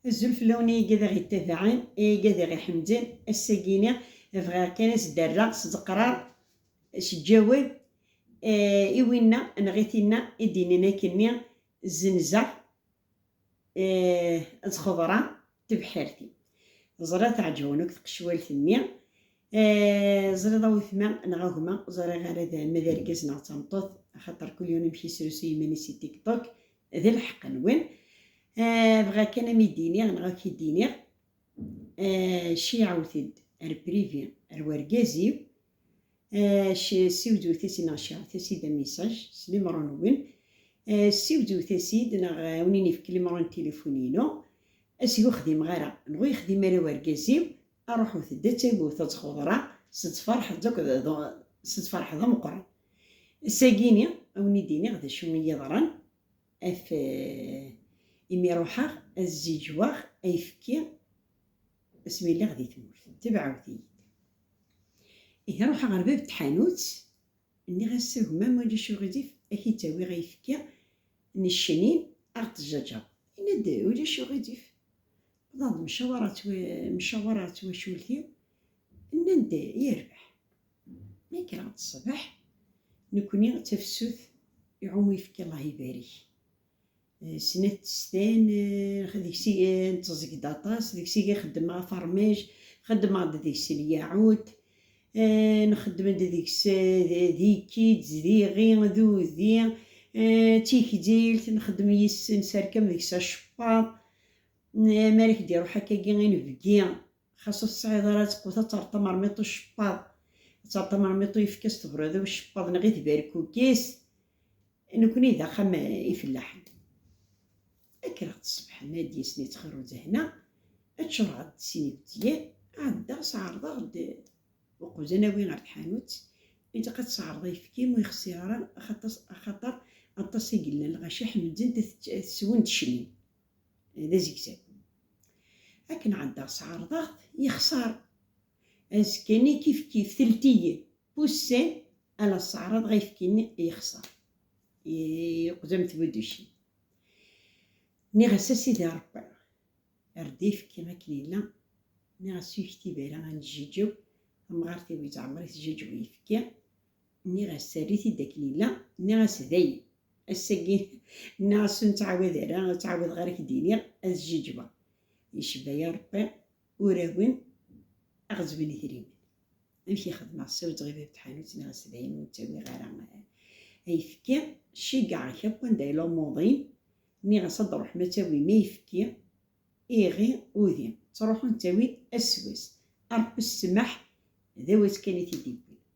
Azul fell-awen ay igad aɣ-yettabaɛen, ay igad aɣ-iḥemden, ass-agi-ni bɣiɣ kan ad s-d-rreɣ s ddqrar, s ǧǧawed, i winna neɣ i tinna i d-yennan akkenni, Zzenzeɣ ad xeḍreɣ tebḥirt-iw. Ẓriɣ tɛeǧǧben akk tqecwalt-nni. Ẓriɣ a wetma neɣ a gma, ẓriɣ ara d ma d argaz neɣ d tameṭṭut, axaṭer kul yiwen amek yesrusuy iman-is i TikTok, D lḥeqq-nwen. Ah, bɣa kan a m-id-iniɣ neɣ a k-id-iniɣ, ah, ceyɛut-d ar Privi, ar wergaz-iw, ah, siwzewt-as-id neɣ ceyɛut-as-id a message s limero-nwen, ah, siwzewt-as-id neɣ awen-in-ifk limero n tilifun-inu, as-g ur xdimeɣ ara, neɣ ur yexdim ara wergaz-iw, Aruḥut-d ad tagut ad txudra s tferḥeḍ akk d s tferḥeḍ ameqqran. Ass-agi-ni ad wen-id-iniɣ d acu i yi-yeḍran af imi ruḥeɣ ad zziǧwaɣ ayefki asmi lliɣ di tmurt. Tebɛut-iyi-d. Ihi ruḥeɣ ɣer bab n tḥanut, nniɣ-as a gma ma ulac uɣilif ad k-id-awiɣ ayefki n ccenin ad ɣ-d-tjaǧaweḍ. Yenna-d ulac uɣilif. Bḍan-d mcawaṛa ɣer twacult-iw, nnan-d yerbeḥ. Mi kkreɣ-d ṣṣbeḥ, nekkni d tafsut iɛumu yefki Allah ibarik. Snat testan, deg-s i netteẓẓeg-d aṭas, deg-s i xeddmeɣ afermaj, xeddmeɣ-d deg-s lyaɛut, nxeddem-d deg-s d ikkits, d iɣi, d udi, d tikdilt, nxeddem yis-s, nesserkam deg-s acekwaḍ. Mi ara k-d-iruḥ akkagi inebgi, xas ur tesɛiḍ ara ttqut ad terreḍ tamermiṭ n ucebbaḍ, ad terreḍ tamermiṭ n uyefki s tebṛiḍ i ucebbaḍ neɣ i tberkukist. Nekkni d axxam n ifellaḥen. Kkreɣ-d ṣṣbeḥ nadi snat xir uzehna, ččureɣ-d sin ibettiyen, ɛeddaɣ sɛerḍeɣ-d uqbez ad nawi ɣer tḥanut. Ilaq ad tesɛerḍeḍ ayefki ur yexṣir ara axaṭer aṭas i yellan lɣaci ḥemdent-t swen-d cennun. d azegzaw. Akken ɛeddaɣ sɛerḍeɣ-t, yexṣer. Azekka-nni kifkif, telt-iyi, poussé, ala sseɛraḍeɣ ayefki-nni, yexṣer. Yeqdem tbuducin. Nniɣ-as, a Sidi Rebbi, err-d ayefki akken yella, nniɣ-as, uyekti bera ad neǧǧiǧew, tamɣart-iw yettɛemmer-it jjiǧ uyefki, Nniɣ-as err-it-id akken yella, nniɣ-as dayen, ass-agi nniɣ-as ur nettɛawad ara, ur ttɛawadeɣ ara k-d-iniɣ ad ǧǧiǧbeɣ. Yecba ya Ṛebbi urawen aɣ-zzmen idrimen. Amek i xedmeɣ, ssawḍeɣ i bab tḥanut nniɣ-as dayen ur ttawiɣ ara ayefki, ceyyeɛ-ak akk anda i lumuḍ-im, nniɣ-as ad ṛuḥem ad tawim ayefki, iɣi, udi. Ttṛuḥun ttawin ass s wass. Aṛebbi ssmaḥ, d awezg kan i t-id-iwwin.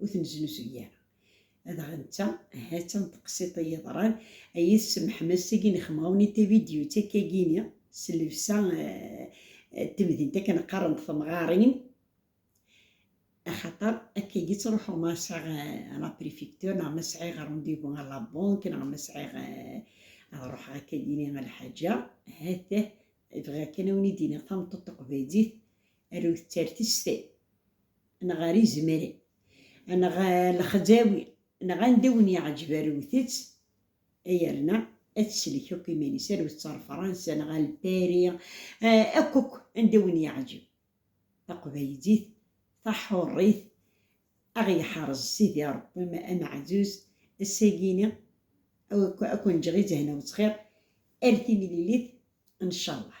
ur tenneznuzuy ara. Adɣa netta, ha-tt-a n teqsiḍt i yeḍran, ay at Sem Ḥmed, seg inexmawen i tavidyut akkagini, s llebsa n temdint akken qqaren-d temɣarin, axaṭer akkagi ttruḥuɣ ma sɛiɣ a la prefecture neɣ ma sɛiɣ rendez-vous a la banque neɣ ma sɛiɣ ad ruḥeɣ akkagini a lḥaǧa, ha-t-ah, bɣiɣ kan a wen-id-iniɣ tameṭṭut taqbaylit, arut-tt ar testay. neɣ ar izemren, neɣ lexzawi, neɣ anda i wen-yeɛǧeb arut-tt, yerna ad tsellek akk iman-is, arut-tt ar Fransa neɣ ar Pari, akk akk anda i wen-yeɛǧeb. Taqbaylit taḥuṛṛit, a ɣ-yeḥreẓ Sidi Ṛebbi ameɛzuz, ass-agi-ni a ken-ǧǧeɣ i zehna wettxiṛ, ar timlilit n ccallah.